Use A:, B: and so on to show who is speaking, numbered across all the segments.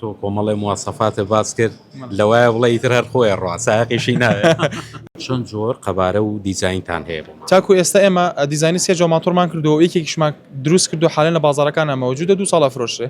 A: تۆ کۆمەڵێ مواسەفاتت باس کرد لەوایە بڵێ ئیتر هەر خۆیە ڕوا سایەقیشی ناوێ. چەند جۆر قەبارە و دیزاینتان هەیە بۆ ماڵ؟ تاکو ئێستا ئێمە
B: دیزاینی سێ جۆر ماتۆڕمان کردووە و یەکێکیشمان دروست کردووە حالەن لە بازاڕەکانا مەوجودە دوو ساڵە ئەفرۆشرێ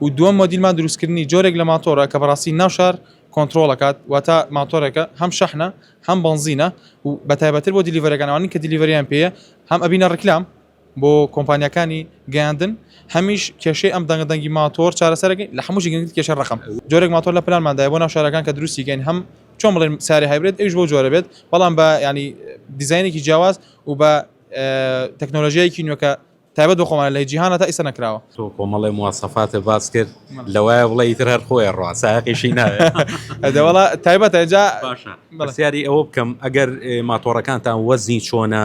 B: و دووەم مۆدیلمان دروستکردنی جۆرێک لە ماتۆڕە کە بەڕاستی ناو شار کۆنتڕۆڵ ئەکات واتا ماتۆڕێکە هەم شەحنە هەم بەنزینە و بەتایبەتتر بۆ دیلیڤەرەکان ئەوانەی کە دیلیڤەریان پێیە هەم ئەبینە ڕیکلام بۆ کۆمپانیاکانی گەیاندن هەمیش کێشەی ئەم دەنگە دەنگی ماتۆر چارەسەرەکەی لە هەمووشی گەنگت کێشە ڕقم جۆرێک ماتۆر لە پلانماندای بۆ ناو شارەکان کە دروستیگەین هەم چۆن بڵێن ساری هایبرێت ئەوش بۆ جۆرە بێت بەڵام بە ینی دیزینێکی جیاواز و بە تەکنۆلژیایکی نوێکە تایبەت بە خۆمان لە جیهانە تا ئیسە نەکراوە تۆ کۆمەڵی
A: موواسەفاتە باس کرد لەوایە بڵێ ئیتر هەر خۆی ڕاستایقیشی ناوێتەوەڵا
B: تایبەتە جا باشە بەسیاری
A: ئەوە بکەم ئەگەر ماتۆڕەکانتان وەزنی چۆنە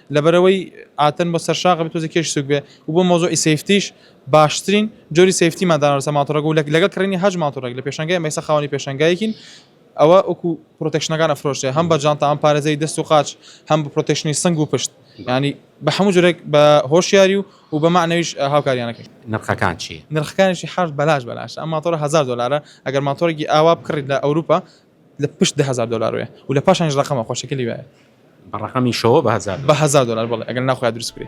B: لەبەرئەوەی ئاتن بۆ سەرشاخ بێت تۆزێ کێش سوک بێ و بۆ مەوزوعی سەیفتیش باشترین جۆری سەیفتیمان داناوە لەسەر ماتۆڕەکە و لەگەڵ کڕینی هەشت ماتۆڕێک لە پێشانگای ئێمە ئێستا خاوەنی پێشانگایەکین ئەوە وەکو پرۆتێکشنەکان ئەفرۆشرێ هەم بە جانتا هەم پارێزەری دەست و قاچ هەم بە پرۆتێکشنی سنگ و پشت یانی بە هەموو جۆرێک بە هۆشیاری و و بە مەعنەویش هاوکاریانە کرد نرخەکان چی؟
A: نرخەکانیشی حەشت بەلاش
B: بەلاشە ئەم ماتۆڕە هەزار دۆلارە ئەگەر ماتۆڕێکی ئاوا بکڕیت لە ئەوروپا لە پشت دە هەزار دۆلار وەیە و لە پاشانیش ڕەقەمە خۆشەکەلی وایە. بە
A: ڕەقەمی
B: شەوە بە هەزار. بە هەزار دۆلار
A: بەڵێ
B: ئەگەر نا خۆیا
A: دروست بکرێ.